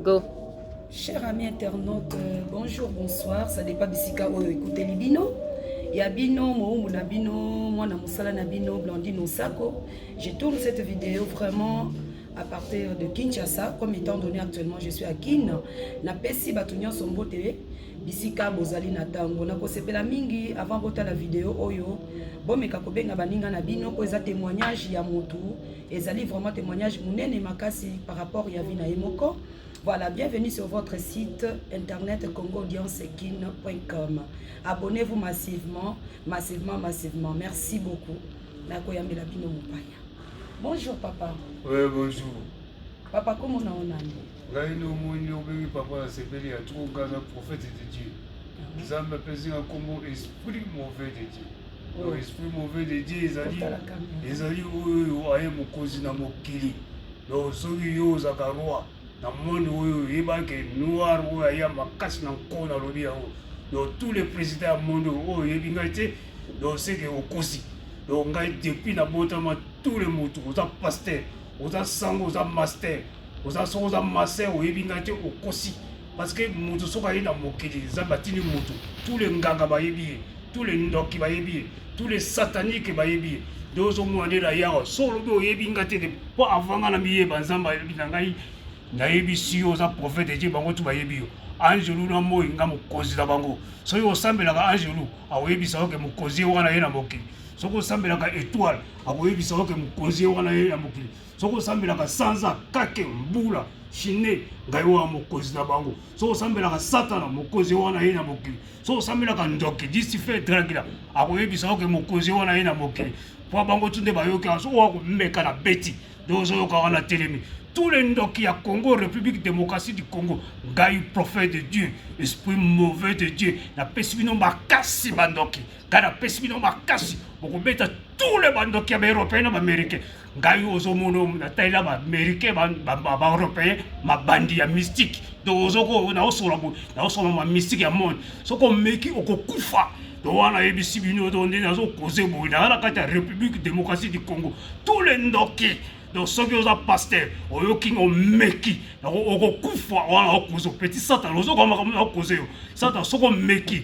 go cher ami internaute euh, bonjour bonsoir ça dépend bisika oyo ekuteli bino ya bino mowumbu na bino mwana mosala na bino blandine osako je tourne cette vidéo vraiment à partir de kinshasa comme étant donné actuellement je suis à kin napesi bato nyonso mbote bisika bozali na ntango nakosepela mingi avant botala video oyo bomeka kobenga baninga na bino oyo eza témoignage ya motu Ezali vraiment témoignage munene makasi par rapport ya vie na ye moko. Voilà, bienvenue sur votre site internet congoaudiencegine.com. Abonnez-vous massivement, massivement, massivement. Merci beaucoup. Nakoyambela bino mopaya. Bonjour papa. Oui, bonjour. Papa, comment on a ngai nde omoi nde obengi papa na sepeli ya trop ngai na prophète de dieu nzambe apesi nga nkombo esprit mauvais de dieu donc oh. esprit mauvais de dieu ezali ezali oyo aye mokonzi na mokili donc soki yo ozalaka roi na monde oyo oyebaki noir oyo aya makasi na nko nalobi yango donc tous les présidents ya monde oyo oh, oyebi ngai te donc seke okosi donc ngai depuis nabotama tous les motu oza pasteur oza sango oza master oza soko oza master oyebi ngai te okosi parce que moto soki aye na mokili nzambe atindi moto tous les nganga bayebi ye tous les ndoki bayebi ye tous les satanique bayebi ye nde ozomona nde na yawa so olobi oyebi ngai te mpo avant ngai na miyeba nzambe ayebi na ngai nayebisi yo oza profete je bango tu bayebi yo angelu na moi nga mokonzi na bango soki osambelaka angelu akoyebisa oke mokonzi ye wana ye na mokili soki osambelaka etoile akoyebisa yo ke mokonzi ye wana ye ya mokili soki osambelaka sanza kake mbula shine ngai wana mokonzi na bango soki osambelaka satana mokonzi ye wana ye na mokili soki osambelaka ndoki disife dragila akoyebisa yo ke mokonzi ye wana ye na mokili mpo bango tu nde bayoki wana soki oya komeka na beti nde ozoyoka wana telemi tous les ndoki ya Congo, République démocratie du Congo, Gaï prophète de Dieu, esprit mauvais de Dieu, na pesi bino makasi bandoki. ngai napesi bino makasi bokobeta tous les bandoki ya baeuropéen na baaméricain ngai ozomono natalela baaméricain baeuropéen mabandi ya mystique donc ozoko naosola boye naosola ma mystique ya monde soki omeki okokufa to wana ayebisi bino to nde nazokoze boye naa na kati ya république démocratie du congo tous les ndoki donc soki oza paster oyoki omeki okokufa wana okozo petit satana ozokoa makambo na okoze yo satana soki omeki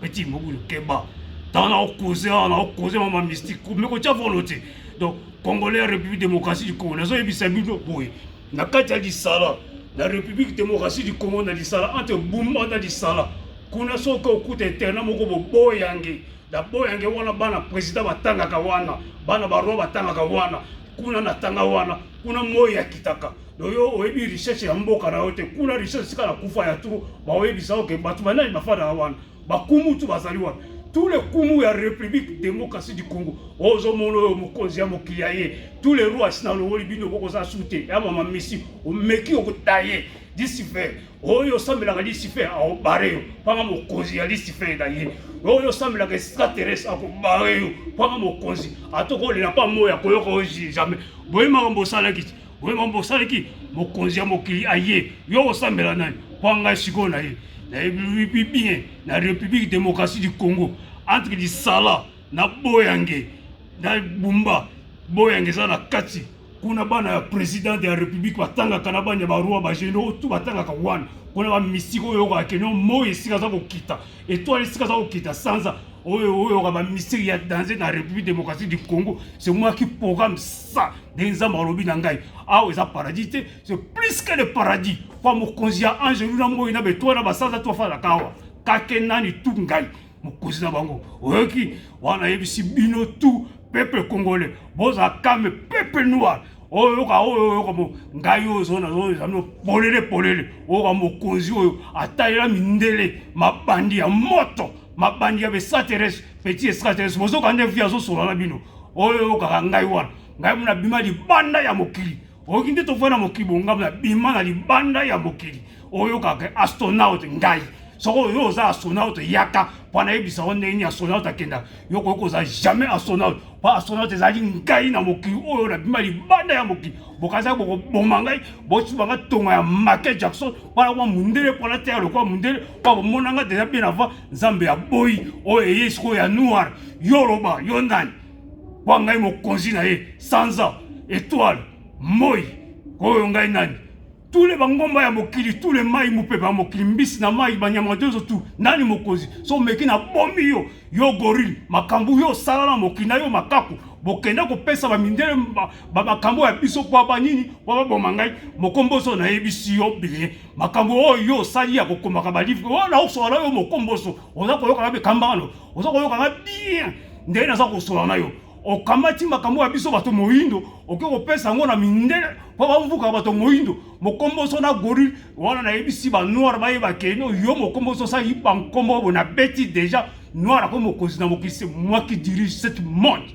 petit mobulu keba ntango na okoze awa na okoze mama mystique me kotya volonté donc congolais ya république démocratie du congo nazoyebisa bino boye na kati ya lisala na république démocratie du congo na lisala entre bumba na lisala kuna soki okuta interna moko boboyange na boyange wana bana président batangaka wana bana baroi batangaka wana kuna natanga wana kuna moi akitaka donc yo oyebi richesse ya mboka na yo te kuna richesse esika na kufa ya tro baoyebisa oke bato banani bafandaka wana bakumu tu bazali wana tous les kumu ya république démocratie du congo ozomona oyo mokonzi ya mokili ya ye tous les rois asi nalongoli bino bokozala su te ya mama misi omeki okotaye lisifer oyo osambelaka lisifer akobare yo mpanga mokonzi ya lisifer na ye oyo osambelaka extraterrestre akobare yo mpanga mokonzi atokolela mpa moi akoyoka oyo jamais boye makambo osalaki oyo mambo osalaki mokonzi ya mokili aye yo osambela nani mpo ngai sikoyo na ye nayebi bien na république démocratie du congo entre lisala na boyange na bumba boyange eza na kati kuna bana ya président de la république batangaka na bana ya baroi bageno tu batangaka wana kuna bamisiki oyo oyokaka keno moi esika aza kokita etwale esika aza kokita sanza oyo oyoka bamisiri ya danger na république démocratique du congo c'est moi qui programme ça ndenge nzambe alobi na ngai awa eza paradis te c'est plus que le paradis mpo mokonzi ya angelu na moi na betoa na basanza to afandaka awa kake nani tu ngai mokonzi na bango oyoki wana ayebisi bino tu peuple congolais bozala kame peuple noir oyoka oyo oyoka mo ngai oyo zona oyo ezali polele polele oyoka mokonzi oyo atalela mindele mabandi ya moto mabandi ya besateres petit estrateres bozoka nde vi azosola na bino oyo oyokaka ngai wana ngai mona bima libanda ya mokili oyoki nde tofai na mokili bongamu na bima na libanda ya mokili oyokaka astronaute ngai soko oyo oza astronaute yaka mpo nayebisa yo ndenge nini astronaute akendaka yo koki kozala jamais astronaute mpo astronaute ezali ngai na mokili oyo na bima libanda ya mokili bokanisa bokoboma ngai bosuba ngai tonga ya make jackson wana kwa mundele mpo natya lokola mundele mpo bomona nga deja bien avant nzambe ya boyi oyo eye sikoyo ya noir yo oloba yo ndani kwa ngai mokonzi na ye sanza etoile moi oyo ngai nani tous les bangomba ya mokili tous les mai mopepe ya mokili mbisi na mai banyama dozo tu nani mokonzi so meki na bomi yo yo gorille makambo yo osala na mokili na yo makaku bokenda kopesa bamindele ba makambo ya biso kwa ba nini kwa ba boma ngai mokomboso na yebisi yo bien makambo oyo yo osali ya kokomaka ba livre oyo na osola yo mokomboso oza koyoka be kambano oza koyoka nga bien ndenge naza kosola na yo okamati makambo ya biso bato moyindo oke kopesa yango na mindele mpo bamvuka bato moyindo mokomboso na goril wana nayebisi banoire bayeba keno yo mokomboso osali bankombo oyo nabeti deja noire akomi mokonzi na mokili se moi qui dirige cette monde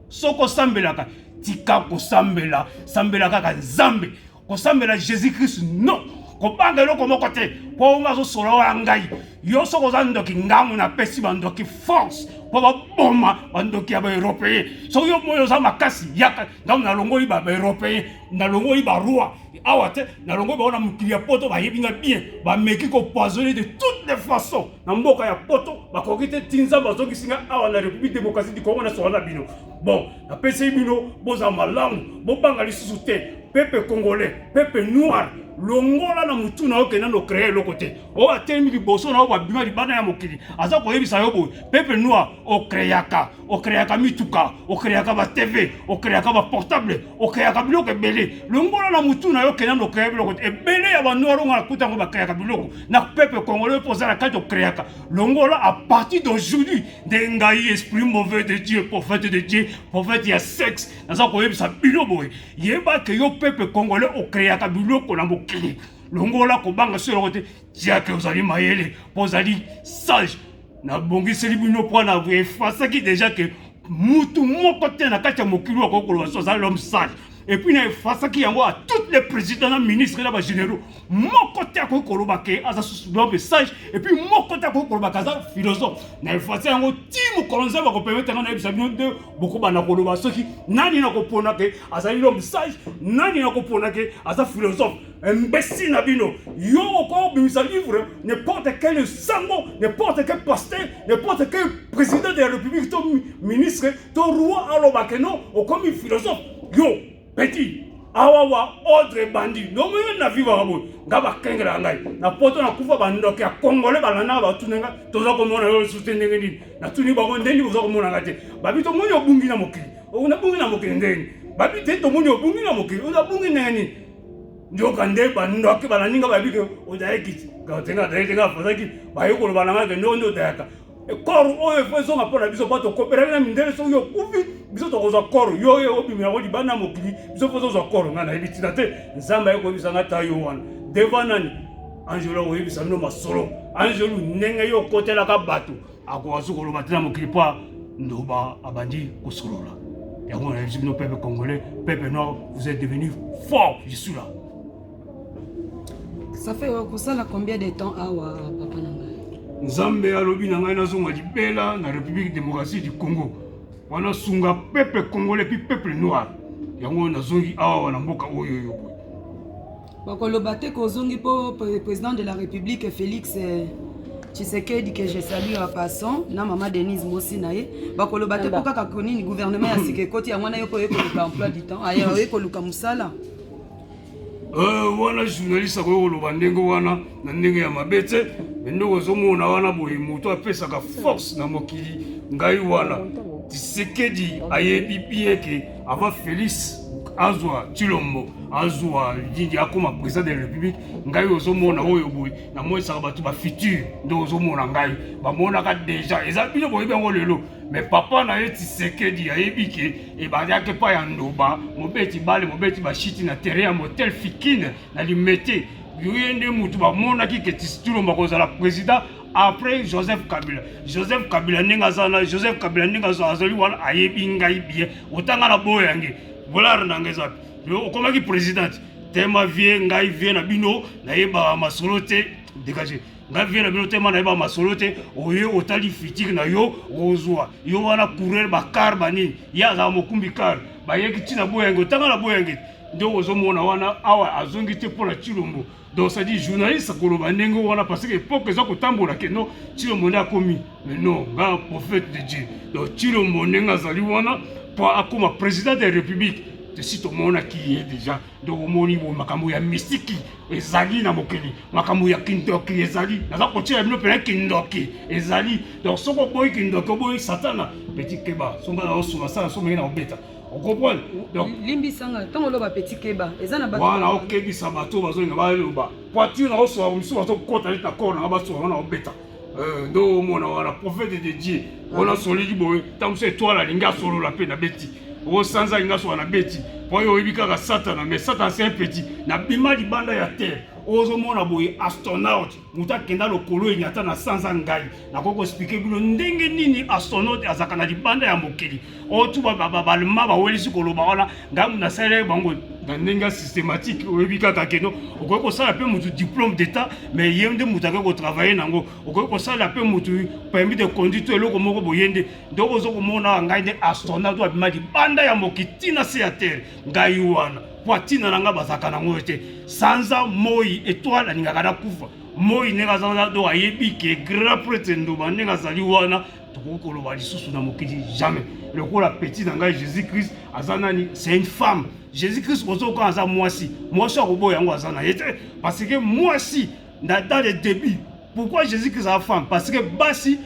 Soki osambelaka, tika kosambela, sambela kaka Nzambe. Kosambela Jésus Christ non. Kobanga eloko moko te mpo nga azosolola ngai. Yo soki oza ndoki ngango napesi bandoki force mpo baboma bandoki ya baeuropeen. Soki yo moi oza makasi yaka ntango nalongoli baeuropeen, nalongoli baroi awa te, nalongoli bango na mokili ya poto bayebi nga bien, bameki kopoisonne de toutes les façons. na mboka ya poto bakoki te ti nzambe azongisi ngai awa na république démocratie du congo nasoka na bino bon napesi bino bozala malamu bobanga lisusu te pepe congolais pepe noir longola na motu na yo kenda no créer eloko te oyo atelemi liboso na yo babima libanda ya mokili aza koyebisa yo boye pepe noir okreaka okreaka mituka okreaka batv okreaka baportable okreaka biloko ebele longola na motu na yo okenda na okrea biloko te ebele ya banoir onga nakuta yango bakreaka biloko na peuple congolais mpo oza na kati okreaka longola à partir d'aujourd'hui nde ngai esprit mauvais de dieu prophète de dieu prophète ya sexe naza koyebisa bino boye yeba ke yo peuple congolais okreaka biloko na mokili longola kobanga solo te tiake ozali mayele mpo ozali sage nabongiseli bino mpo na efasaki deja ke mutu moko te na kati ya mokili oyo akoki koloba so azali l'homme sage epuis na efasaki yango a toutes les présidents na ministre na bagénéraux moko te akoki koloba ke aza susu l'homme sage epuis moko te akoki koloba ke aza philosophe na efasi yango ti mokolo nzambe akopermete yango nayebisa bino nde bokobanda koloba soki nani nakopona ke azali l'homme sage nani nakopona ke aza philosophe imbécile na bino yo okoki obimisa livre n'importe quel sango n'importe quel pasteur n'importe quel président de la république to ministre to roi aloba ke non okomi philosophe yo petit awa wa ordre ebandi ndongo yo na vivaka boye nga bakengelaka ngai na poto nakufa bandoki ya kongole balandaka batuna nga toza komona yo lisusu te ndenge nini natuni bango ndenge boza komona nga te babi tomoni obungi na mokili nabungi na mokili ndenge nini babi te tomoni obungi na mokili onabungi ndenge nini nzokande bandoki bananinga bayebi ke odayaki tenga adayaki tenga afazaki baye koloba na ngai ke ndoko nde odayaka koro oyo efo ezonga mpo na biso mpo tokopelaki na mindele soki yo okufi biso tokozwa koro yo oyo obimi yango libanda ya mokili biso mpo tozwa koro ngai nayebi ntina te nzambe aye koyebisa ngai ta yo wana deva nani angelo akoyebisa bino masolo angelo ndenge yo okotelaka bato akoka so koloba te na mokili mpo ndoba abandi kosolola yango nayebisi bino peuple congolais peuple noir vous êtes devenu fort je suis là ça fait okosala combien de temps awa papa na ngai nzambe alobi na ngai nazonga libela na république démocratie du congo wana sunga peuple congolais puis peuple noir yango nazongi awa na mboka oyo oyo Bakoloba te que ozongi mpo president de la republique Felix eh, Tshisekedi que je salue en passant na mama Denise Mosi na ye bakoloba te mpo kaka konini gouvernement ya sika ekoti yango wana yo mpo oye koluka emploi du temps aya oye koluka mosala Euh, wana journaliste akoki koloba ndenge wana na ndenge ya mabe te me ndenge ozomona wana boye moto apesaka force na mokili ngai wana tisekedi ayebi bien ke avant Felix azwa Chilombo azwa Didi akoma président de la République ngai ozomona oyo boye namonisaka bato ba futur nde ozomona ngai bamonaka déjà eza bino boyebi yango lelo mais papa na ye Tshisekedi ayebi ke ebandaki epai ya Ndoba mobeti bale mobeti bashiti na terrain ya motel Fikine na Limete yoye nde motu bamonaki ke Chilombo akozala président après joseph kabila joseph kabila ndenge aza na joseph kabila ndenge azali wana ayebi ngai bien otanga na boyo yange volare na ngai ezapi okomaki présidente tema vie ngai vie na bino nayebaka masolo te dégage ngai vie na bino tema nayebaka masolo te oye otali fitire na yo ozwa yo wana coureur bakar banini ye azala mokumbi kar bayeki ntina boyange otanga na boyange nde ozomona wana awa azongi te mpo na cilombo donc ça dit journaliste akoloba ndenge wana parce que époque eza kotambola ke non tshilombo nde akomi mais non nga prophète de dieu donc tshilombo ndenge azali wana mpo akoma président de république tesi tomonaki ye déjà donc omoni bo makambo ya mistiki ezali na mokili makambo ya kindoki ezali naza kotyela bino mpena kindoki ezali donc soki oboyi kindoki oboyi satana petit keba songa na osuma sala somo ye na kobeta On comprend Donc limbisa nga tango loba petit keba eza na ba Voilà, ok bisa bato bazo nga ba loba. Poiture na oso musu bazo kota leta corps na ba soa na obeta. Euh ndo mona wana prophète de Dieu. Ona soliki boye tango se toi la linga solo la pe na beti. O sanza linga so na beti. Po yo oyebi kaka satana mais satana c'est un petit. Na bima libanda ya terre. Ozo mona boye astronaute moto akenda lokolo enyata na sanza ngai nakoki koexplike bino ndenge nini astronaute azalaka na libanda ya mokili oyo tu babalma bawelisi koloba wana ngai moto nasalelaki bango na ndenge ya systématique oyebi kaka keno okoki kosala mpe motu diplôme d'état mais ye nde moto akoki kotravaille na yango okoki kosalela mpe motu permis de conduite to eloko moko boye nde donc ozo komona ngai nde astronaute oyo abima libanda ya mokili ntina se ya terre ngai wana poitrine na nga bazalaka na yango te sanza moi etoile alingaka nakufa moi ndenge azalaka do ayebi ke grand prêtre ndoba ndenge azali wana tokoki koloba lisusu na mokili jamais lokola petit na ngai jésus christ aza nani c'est une femme jésus christ bozoka aza mwasi mwasi akoboya yango aza na ye te parce que mwasi Dans le début, pourquoi Jésus Christ a femme Parce que basi,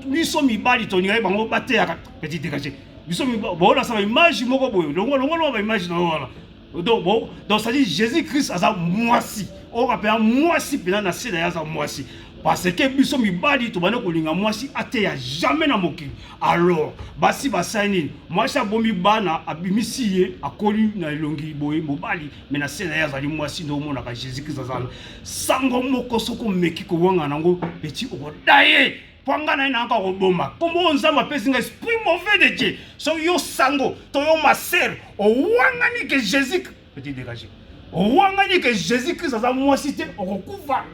biso mibali tolingaki bango bateyaka petit dégagé. Biso baola sa image moko boye, longo longo longo ba image na wana. Donc bon, donc ça dit Jésus Christ aza mwasi. On rappelle mwasi pena na sida yaza mwasi. Parce que biso mibali tobanda kolinga mwasi ateya jamais na mokili. Alors, basi basani, mwasi abomi bana abimisi ye akoli na elongi boye mobali me na se na ye azali mwasi nde omonaka jésus krist azala sango moko soki omeki kowanga nango peti okoda ye mpo ngai na ye nayaka koboma nkombo oyo nzambe apesi ngai esprit mauvais de dieu so yo sango to yo masere owangani ke jésus peti dégage owangani ke jésus krist aza mwasi te okokufa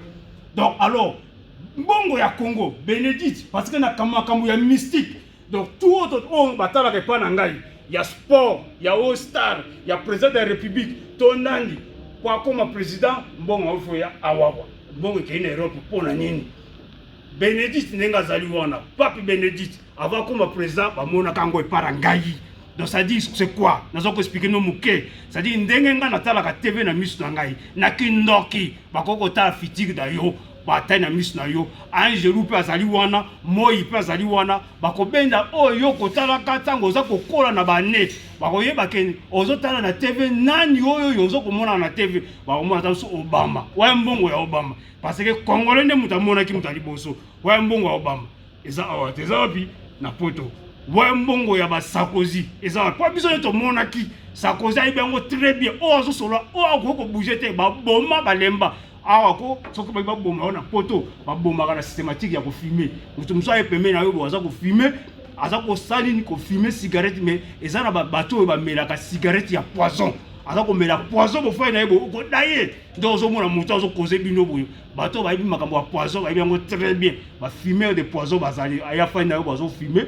donc alors mbongo ya congo benedite parce que na makambo ya mystique donc tout oyo oh, batalaka epai na ngai ya sport ya all star ya président de la république to nani mpo akoma président mbongo aofo ya awawa mbongo ekei na europe mpo na nini benedite ndenge azali wana pape benedite avant akoma président bamonaka yango epai na ngai donc ça dit c'est quoi naza koexplike no moke ça dit ndenge ngai natalaka tv na miso na ngai na kindoki bakoki kotala fitire na yo Batai na miso na yo, angelu mpe azali wana, moi mpe azali wana. Bakobenda oyo yo kotalaka ntango oza kokola na bane. Bakoyeba ke ozotala na TV nani oyo oyo ozo komona na TV. Bakomona ata biso Obama. Waya mbongo ya Obama. Parce que Congolais nde moto amonaki moto ya liboso. Waya mbongo ya Obama. Eza awa te. Eza wapi? Na poto. Waya mbongo ya ba Sarkozy. Eza wapi? Mpo biso nde tomonaki. Sarkozy ayebi yango très bien. Oyo azosolola, oyo akoki kobouge te. Baboma, balemba. awa ko soki baki baboma yo na poto babomaka na systématique ya kofime moto mosusu aye pembe na yo bo aza kofime aza kosala nini kofime cigarette mais eza na babato oyo bamelaka cigarette ya poison aza komela poison bofai na ye boye okoda ye nde ozomona moto azokoze bino boye bato bayebi makambo ya poison bayebi yango très bien bafumeur de poison bazali aya fai na yo bazofime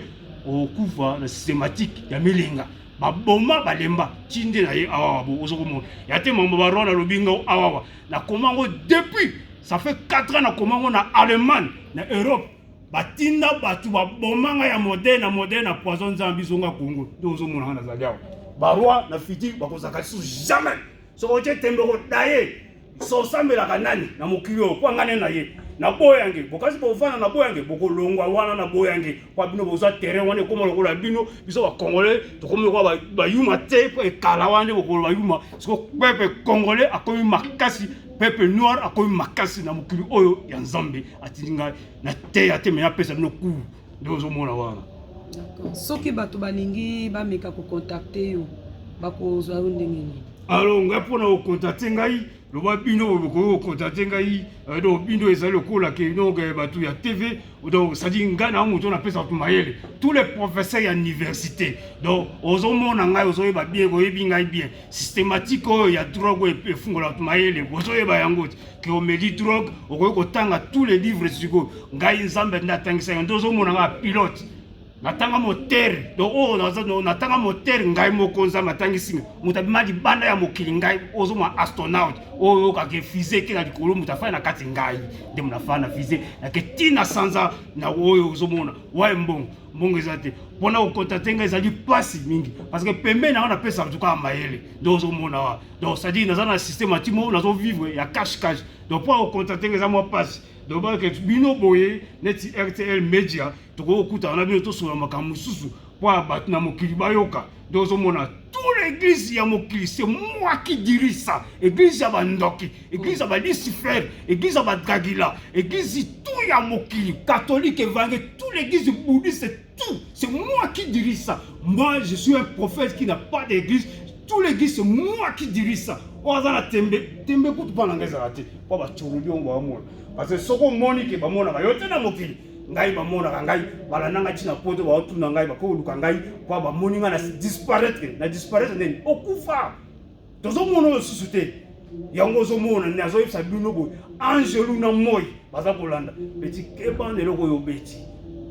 okufa na systématique ya milinga baboma balemba tinde na ye awawa bo ozokomona ya te mambo barona lobi ngao awawa na koma yango depuis ça fait 4 ans na koma yango na allemagne na europe batinda bato baboma ngai ya modele na modele na poison nzambe bizonga kongo nde ozomona ngai nazali awa baroi na fiti bakozalaka lisusu jamais soki otye tembe okodaye sosambelaka nani na mokili oyo mpo angane na ye na boyange bokasi bovanda na boyange bokolongwa wana na boyange Kwa bino boza terrain wana ekoma lokola bino biso ba congolais tokomi lokola ba yuma te po ekala wana bokolo ba yuma siko peuple congolais akomi makasi peuple noir akomi makasi na mokili oyo ya nzambe atindi ngai na teya te me napesa bino cour nde ozomona wana soki bato balingi bameka kocontacte yo bakozwa yo ndenge nini alo ngai mpo na kocontacte ngai loba bino boye bokoki kokontate ngai euh, donc bino ezali lokola ke donc euh, bato ya tv donc cestadire ngai na moto napesa bato mayele tous les professeurs ya université donc ozomona ngai ozoyeba bien koyebi ngai bien systématique oyo ya drogue oyo efungola bato mayele bozoyeba yango te ke omeli drogue okoki kotanga tous les livres sikoyo ngai nzambe nde atangisa yango nde ozomona ngai pilote natanga motere donc oyo oh, natanga motere ngai moko nzambe atangisi nga moto abima libanda ya mokili ngai ozo mwa astronaute oyo oyokaka fise eke na likolo moto afai na kati ngai nde moto afai na fise nake ntina sanza na oyo ozomona waye mbongo mbongo eza te mpona kokontate ngai ezali mpasi mingi parce que pembeni yango napesaka tukaka mayele donc ozomona wa donc cestadire naza na système atimo nazovivre ya cash cash donc mpo akokontate ngai eza mwa mpasi donc balaka bino boye neti rtl media tokoki kokutana na bino tosolola makambo mosusu mpo ya bato na mokili bayoka nde ozomona tout l'église ya mokili se moi qui dirige ça église ya bandoki église ya balucifer église ya badragila église tout ya mokili catholique evange tout l'église bouddhiste tout c'est moi qui dirige ça moi je suis un prophète qui n'a pas d'église tout l'église c'est moi qui dirige ça oyo aza na tembe tembe kutu mpo na ngai ezala te mpo bacurubi ongo bamona parce que soki omoni ke bamonaka yo te na mokili ngai bamonaka ngai balanda ngai ntina poto baotuna ngai bakoluka ngai mpo bamoni ngai na disparaitre na disparaitre nini okufa tozomona oyo susu te yango ozomona nde azoyebisa bino boye angelu na moi baza kolanda peti keba na eloko oyo obeti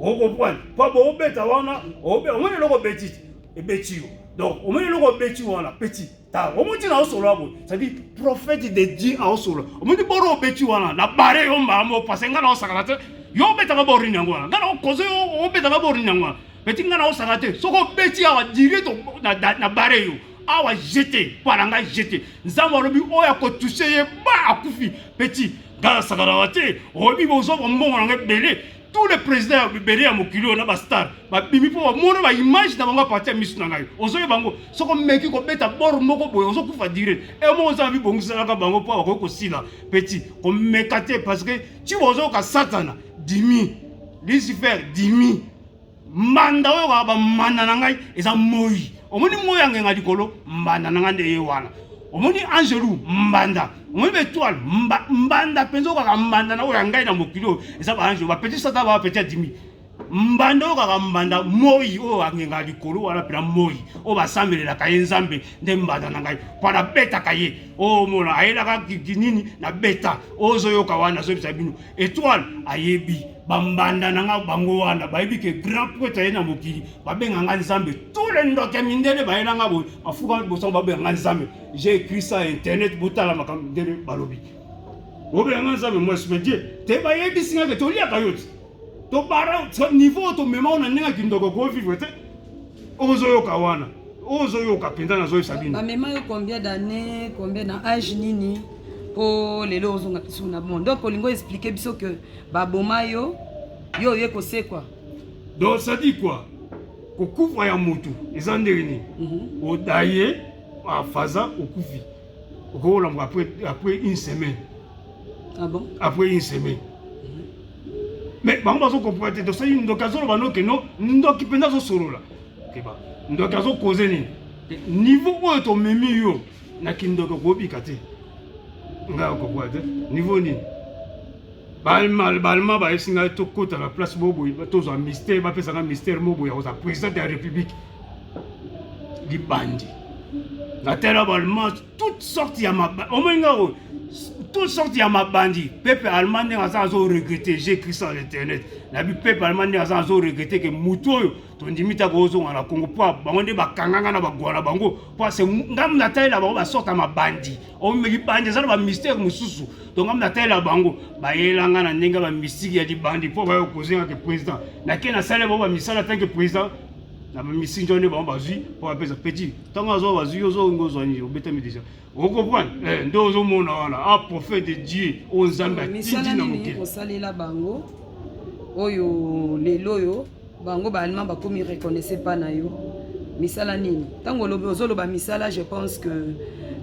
okoprane mpo boobeta wana omoni eloko obeti ebeti yo donc omoni eloko obeti wana peti tala omoni ntina aosolola boye cetadi prophète de dieu aosolola omoni boro obeti wana na bare yo mbaa mo pase ngai naosakana te yo obetaka borini yango wana ngai naokoze yo obetaka borini yango wana Petit nga na osaka te. Soko beti awa dire to na, na, na bare yo. Awa jete, pala nga jete. Nzambo alobi oya ko toucher ye ba akufi. Petit nga na sakana wa te. Oyebi bozo ba mbongo na nga ebele. Tous les présidents ya bibele ya mokili oyo na ba star ba bimi po ba mona ba image na bango a partir ya misu na ngai. Ozo ye bango soko meki ko beta bord moko boye ozo kufa dire. E mo oza bi bongiselaka bango po akoki kosila. Petit ko meka te parce que ti bozo ka satana dimi. Lucifer dimi. mbanda oyo kaka bambanda na ngai eza moi omoni moi ya ngenga likolo mbanda na ngai nde ye wana omoni angelu mbanda omoni baetoile mba, mbanda mpenza oyo kaka mbanda na oyo ya ngai na mokili oyo eza baangelu bapeti sata bapeti adimi mbanda oyo kaka mbanda moi oyo angenga likolo wana mpena moi oyo basambelelaka ye nzambe nde mbanda na ngai mpo nabetaka ye omona oh, ayelaka nini na beta ozoyoka wana azobisa bino etoile ayebi bambanda na nga bango wana bayebi ke grand prêtre aye na mokili babenga nga nzambe tous les ndoke mindele baye na nga boye bafuka bosango babenga nga nzambe j'ai écrit ça internet botala makambo mindele balobi obenga nga nzambe moi je me dis te bayebisi nga ke toliaka yo ti tobara niveau oyo tomema ona ndenge kindoko ko vivre te ozoyoka wana ozoyoka mpenza nazoyebisa bino bamema yo combien d'année combien na age nini mpo lelo ozonga biso na bon donc olingi oexplike biso que Ba boma yo, yo oye kosekwa. Donc ça dit quoi? Kokufa ya mutu eza ndenge nini? Mm -hmm. Odaye afaza okufi. Okolamba après après une semaine. Ah bon? Après une semaine. mais bango bazokopola te tosali ndoki azoloba noke no ndoki mpenza azosolola keba ndoki azokoze nini niveau oyo tomemi yo na kindoki okobika te ngai okokoa te niveau nini balma bayebisi ngai tokota na place boboye tozwa mystère bapesa ngai mystère moboye ya kozala président ya république libandi natala balma toute sorte ya maba omoi ngai oyo toute sorte ya mabandi pepe allemand ndenge aza azo regrete j'ai écrit ça na internet nabi pepe allemand ndenge aza azo regrete ke motu oyo tondimi te akozonga na congo mpo bango nde bakanganga na bagwa na bango mpo ase ngambo natalela bango basorte ya mabandi omilibandi eza na bamystere mosusu to ngambo natalela bango bayelanga na ndenge ya bamystike ya libandi mpo bayo kozenga ke président nake nasalela bango bamisala atanke président na bamisi njo nde bango bazwi mpo bapesa petit ntango azwa bazwi ozongi ozwani obetami deja Vous comprenez eh, Nde ozomona wana a ah, prophète de Dieu oyo oh, Nzambe atindi na mokili. Kosalela bango oyo lelo oyo bango ba allemand bakomi reconnaissez pas na yo misala nini ntango olobi ozoloba misala je pense que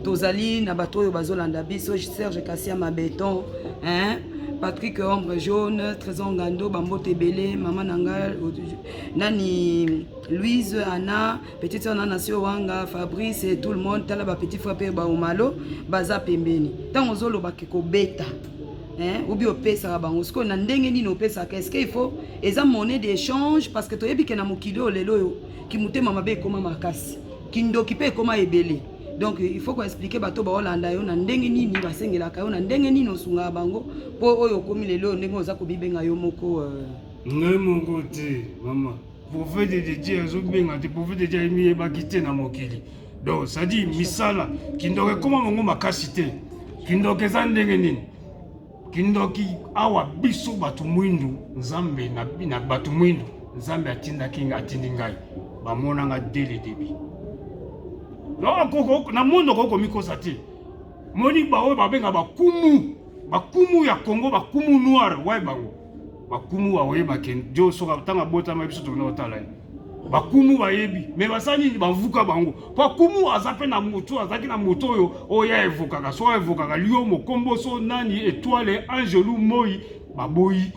tozali na bato oyo bazolanda biso serge kasia mabeton hein? patrick ombre jaune trésor ngando bambote ebele mama na ngai nani louise anna petite sœur na nasio wanga fabrice et tout le monde tala ba petit frère pe ba omalo baza pembeni tango ozoloba ke kobeta hein ou bien opesaka bango sikoyo na ndenge nini opesaka est-ce qu'il faut eza monnaie d'échange parce que toyebi ke na mokili oyo lelo oyo kimotema mabe ekoma makasi kindoki pe ekoma ebele donc il faut koexplike bato baolanda yo na ndenge nini basengelaka yo na ndenge nini osungaka bango mpo oyo okomi lelo ndenge oza komibenga yo moko euh, ngai moko te mama Prophète de Dieu azobenga te, prophète de Dieu ayemiyebaki te na mokili. Donc, ça dit misala, kindoka ekoma bango makasi te. Kindoka eza ndenge nini? Kindoki awa biso bato mwindu, Nzambe na, na bato mwindu, Nzambe atindaki nga atindi ngai. Bamona nga dès le début. Donc, na mondo okoki komikosa te. Moni baoyo babenga bakumu, bakumu ya Congo, bakumu noir, waye bango. bakumu bakoyeba ke jo soka ntango abotama biso tokende kotala ye bakumu bayebi me basala nini bavuka bango mpo akumu aza mpe na moto azalaki na moto oyo oyo aevokaka so aevokaka lio mokombo so nani etoile angelu moi baboyi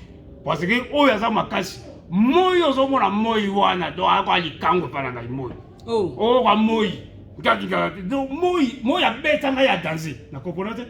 parce que oyo aza makasi moi ozomona moi wana donc akoya likango epai na ngai moi oh. oh, wa moi ntakikala te donc moi moi abeta ngai ya danze na comprendre te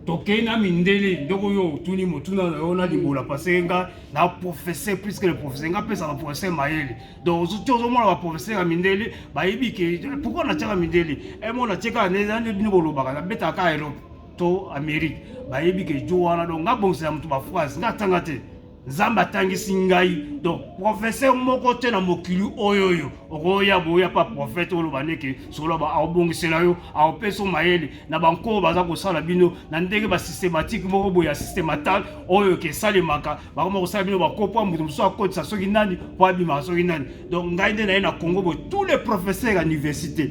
tokei na mindele ndeko yo otuni motuna na yo na libola parce nga na professeur plus que le professeur nga pesa ba professeur mayele donc ozo tio ozomona ba professeur ya mindele bayebi ke pourquoi na tiaka mindele e mo na tiaka ne na ne bolobaka na beta ka Europe to Amérique bayebi ke jo wana donc nga bongisa moto ba phrase nga tanga te nzambe atangisi ngai donc professeur moko te na mokili oyo oyo okoya boya pa prophète oloba ndeke soloba aobongisela yo aopesa mayele na banko oyo baza kosala bino na ndenge basystématique moko boye ya systématal oyo oke esalemaka bakoma kosala bino bakopo moto mosusu akotisa soki nani mpo abimaka soki nani donc ngai nde naye na congo boye tous les professeurs ya université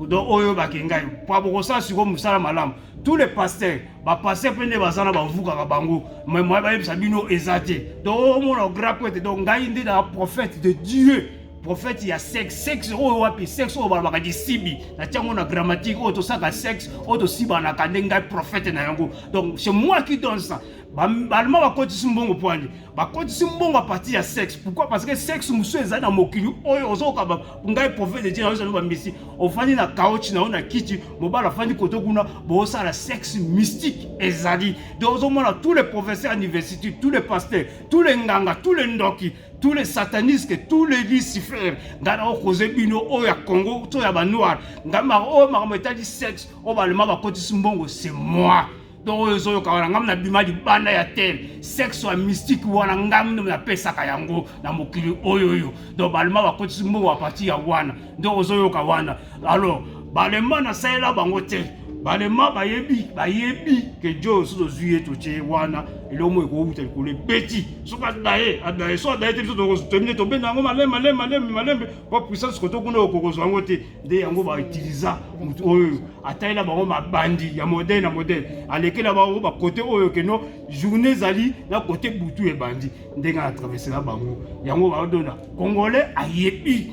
donc oyo bakei ngai mpo bokosala sikoyo mosala malamu tous les pasteurs bapaster mpe nde baza na bavukaka bango mai bayebisa bino eza te donc omona grapo ete donc ngai nde na prophète de dieu prophète ya sexe sexe oyo wapi sexe oyo balobaka lisibi natia yango na grammatique oyo tosaka sexe oyo tosibanaka nde ngai prophète na yango donc c'est moi qui donne ça Balma bakotisi mbongo pwani bakotisi mbongo apati ya sexe pourquoi parce que sexe mosusu ezali na mokili oyo ozokoka ngai prophète de dieu naozali bambisi ofandi na kaochi na yo na kiti mobali afandi koto kuna bosala sexe mystique ezali de ozomona tous les professeurs ya université tous les pasteurs tous les nganga tous les ndoki tous les satanistes tous les lucifer ngai naokoze bino oyo ya congo to ya banoir ngai oyo makambo etali sexe oyo balema bakotisi mbongo c'est moi donc oyo ezoyoka wana ngai nabima libanda ya tel sexe ya mystique wana ngai nde napesaka yango na mokili oyo oyo donc balema bakotisi mbongo ya parti ya wana nde ozoyoka wana alors balema nasalela bango te balema bayebi bayebi ke jo soki tozwi ye totye wana eloko moko ekowuta likolo ebeti soki adaye adaye soki adaye te biso tokomi te tobenda yango malembe malembe malembe malembe mpo puissance koto kuna okokozwa yango te nde yango bautiliza motu oyo atalela bango mabandi ya modele na modele alekela bango bakote oyo keno journée ezali na kote butu ebandi ndenge atravesela bango yango baodona congolais ayebi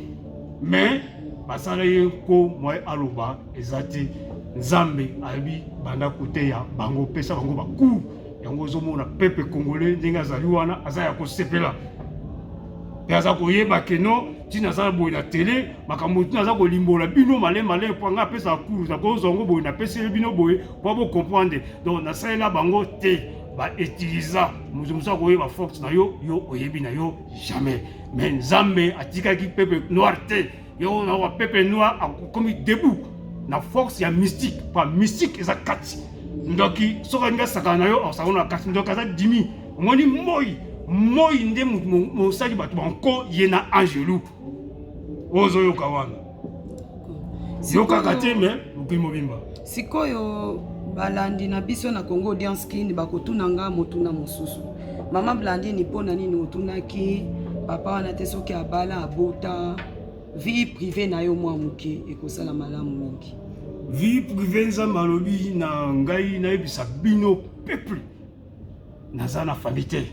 mais basala ye nko mwa aloba eza te nzambe ayebi banda koteya bango pesa bango bakur yango ozomona pepe congolais ndenge azali wana aza ya kosepela mpe aza koyeba keno ntina aza boye na tele makambo ntina aza kolimbola bino male male mpo ngai apesaka cours nakozwa yango boye napeseli bino boye mpo bocomprendre donc nasalela bango te bautiliza moto mosusu akoyeba force na yo yo oyebi na yo jamais mais nzambe atikaki peuple noir te yo na peuple noir akomi debout na force ya mystique mpo mystique eza kati ndoki soki alingi asakana na yo asakana na kati ndoki aza dimi omoni moi moi nde mosali bato banko ye na angelu ozoyoka wana yokaka te me mokili mobimba sikoyo balandi na biso na congo audience kin bakotuna nga motuna mosusu mama blandini mpo na nini otunaki papa wana te soki abala abota vie prive na yo mwa moke ekosala malamu mingi vie prive nzambe alobi na ngai nayebisa bino peuple naza na famille te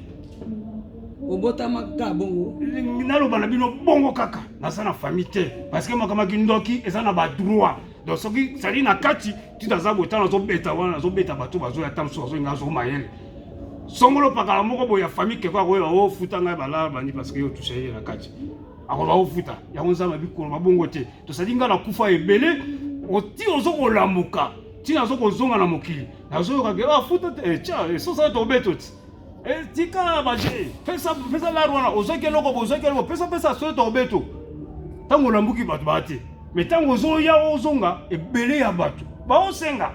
obotama kaka bongo naloba na bino bongo kaka naza na famille te parce que makambo ya kindoki eza na badroit donc soki sali na kati tito aza boye ntango azobeta wana azobeta bato bazoya ata mosusu azolinga azo mayele songolo pakala moko boye ya famille keko akoyeba ofuta oh, ngai balala bandi parce que yo touche ye na kati akoba ofuta oh, yango nzambe abikoloba bongo te tosali ngai na kufa ebele oti ozokolamuka ntina azokozonga na mokili nazoyoka ke bafuta ah, te eh, tya eh, sosa tobeto ti eh, tika baje pesa pesa lar wana ozwaki eloko bozwaki eloko pesa pesa sosa tobeto ntango olambuki bato baa te me ntango ozoya ozonga ebele ya bato baosenga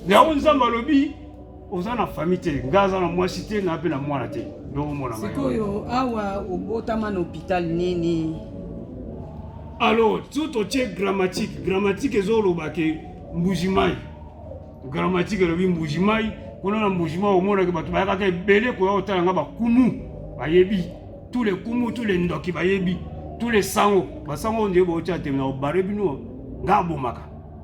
yango nzambe alobi oza na famille te ngai aza na mwasi te na mpe na mwana te sikoyo awa obotama na hôpital nini alors tout otie grammatique grammatique ezoloba ke Mbujimayi gramatike elobi Mbujimayi kuna na Mbujimayi omonaki bato bayakaka ebele koya kotala nga bakumu bayebi tous les kumu tous les ndoki bayebi tous les sango basango nde baotya te na obare bino nga abomaka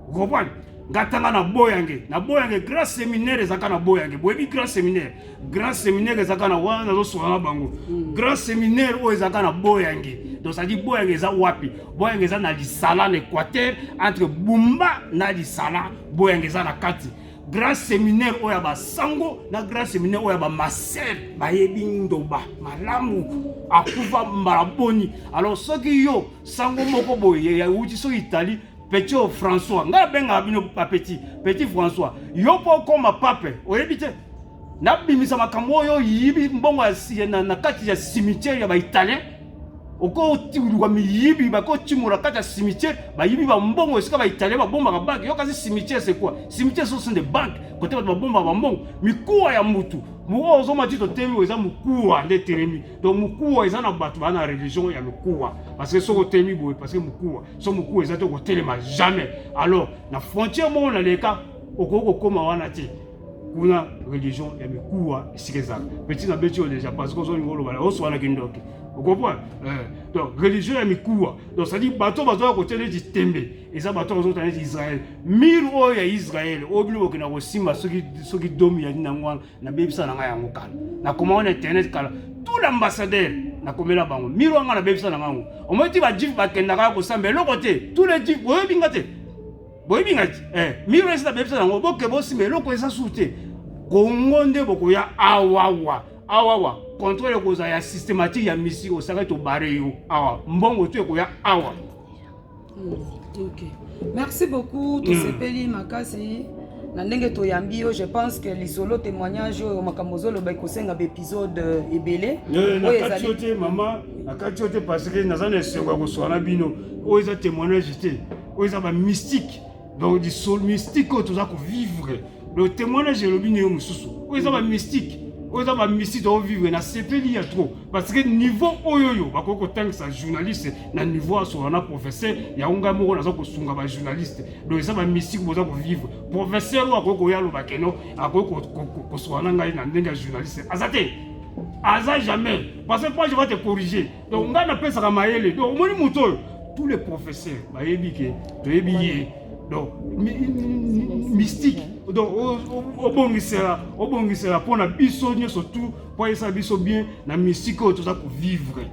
okompane nga tanga na boyange na boyange grand seminaire ezaka na boyange boyebi grand seminaire grand séminaire ezalaka na wana nazoswana na bango hmm. grand séminaire oyo ezalaka na boyange donc cetadi boyange eza wapi boyange eza na lisala na équateur entre bumba na lisala boyange eza na kati grand séminaire oyo ya basango na grand séminaire oyo ya bamaser bayebi ndoba malamu akufa mbala boni alors soki yo sango moko boye yauti soki itali petit françois ngai abengaka bino bapeti petit françois yo mpo okoma pape oyebi te nabimisa makambo oyo yibi mbongo na kati ya cimetière ya baitalien okotiluka miyibi bakotimola kati ya cimetière bayibi bambongo esika baitalien babombaka banke yo kasi cimetière c'est quoi cimetière ce sont des banques kote bato babombaka bambongo mikuwa ya mutu mokoa ozoma ti totelemi eza mokuwa nde etelemi donc mokuwa eza na bato baa na religion ya lokuwa parce que soki otelemi boye parce que mokuwa so mokuwa eza te okotelema jamais alors na frontière moko na leka okoki kokóma wana te kuna religion ya mikuwa esika ezala petit na beti oyo deja parce que ozolinga olobala oswana kindoki okomprendre eh, donc religion ya mikuwa donc cetadi bato bazoya kotia neti tembe eza bato bazota neti israel mire oyo ya israel oyo bino bokenda kosimba soki domi ya nini yango wana nabebisa na ngai yango kala nakoma wana internet kala tout l'ambassadeur nakomela bango mire wana ngai nabebisa na ngai yango omoi ti bajif bakendaka ya kosamba eloko te tous les jif oyebi nga te boyebi nga eh, miro esi nabebisa yango boke bosima eloko eza su te kongo nde bokoya awawa awawa controle ekozala ya systématique ya misi osakaki tobare yo awa mbongo tu ekoya awa hmm, okay. merci beaucoup tosepeli hmm. makasi na ndenge toyambi yo je pense que lisolo témoignage oyo makambo ozoloba ekosenga baepisode euh, ebele eh, nakati yo te mama nakati yo te parce que naza na esengo ya koswana bino oyo eza témoignage te oyo eza ba mystique donc lisolo mystique oyo toza kovivre le témoignage elobi ndenge mosusu oyo eza ba mystique oyo eza bamisi tokovivre na sepeli ya trop parce que niveau oyo oyo bakoki kotangisa journaliste na niveau asola na professeur yango ngai moko naza kosunga bajournaliste donc eza bamisiki boza kovivre professeur oyo akoki koya aloba keno akoki kosola na ngai na ndenge ya journaliste aza te aza jamais parce que moi je va te corriger donc ngai napesaka mayele donc omoni moto oyo tous les professeurs bayebi ke toyebi ye donc mystique donc obongisela obongisela mpo na biso nyonso tu mpo ayesa biso bien na mystique oyo toza kovivre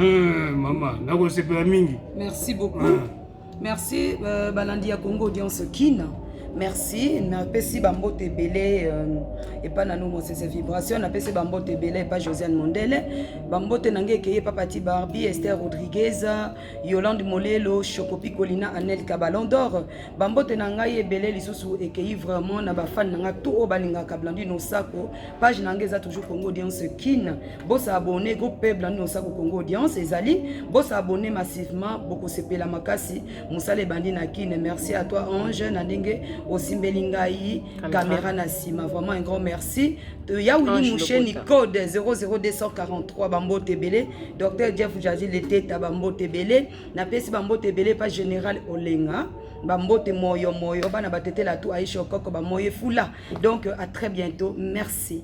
euh, mama nakosepela mingi merci beaucoup ah. Merci euh, balandi ya Congo audience Kin. Merci, napesi bambote ebele euh, epa na no mosese vibration, napesi bambote ebele epa Josiane Mondele, bambote na ngai ekeye epa Pati Barbie, Esther Rodriguez, Yolande Molelo, Chocopi Colina, Anel Cabalon d'Or, bambote na ngai ebele lisusu ekei vraiment na bafani na ngai tout oyo balingaka Blandine Osako page na ngai eza toujours congo audience kin bosa abonne groupe peuple nini osako congo audience ezali bosa abonne massivement bokosepela makasi mosala ebandi na kin merci à toi ange na ndenge osimbeli ngai kamera na nsima vraiment un grand merci ya wili musheni code 00243 bambote ebele docteur jeff jaji leteta bambote ebele napesi bambote ebele pa général olenga bambote moyo moyo bana batetela tu aisha okoko bamoye fula donc à très bientôt merci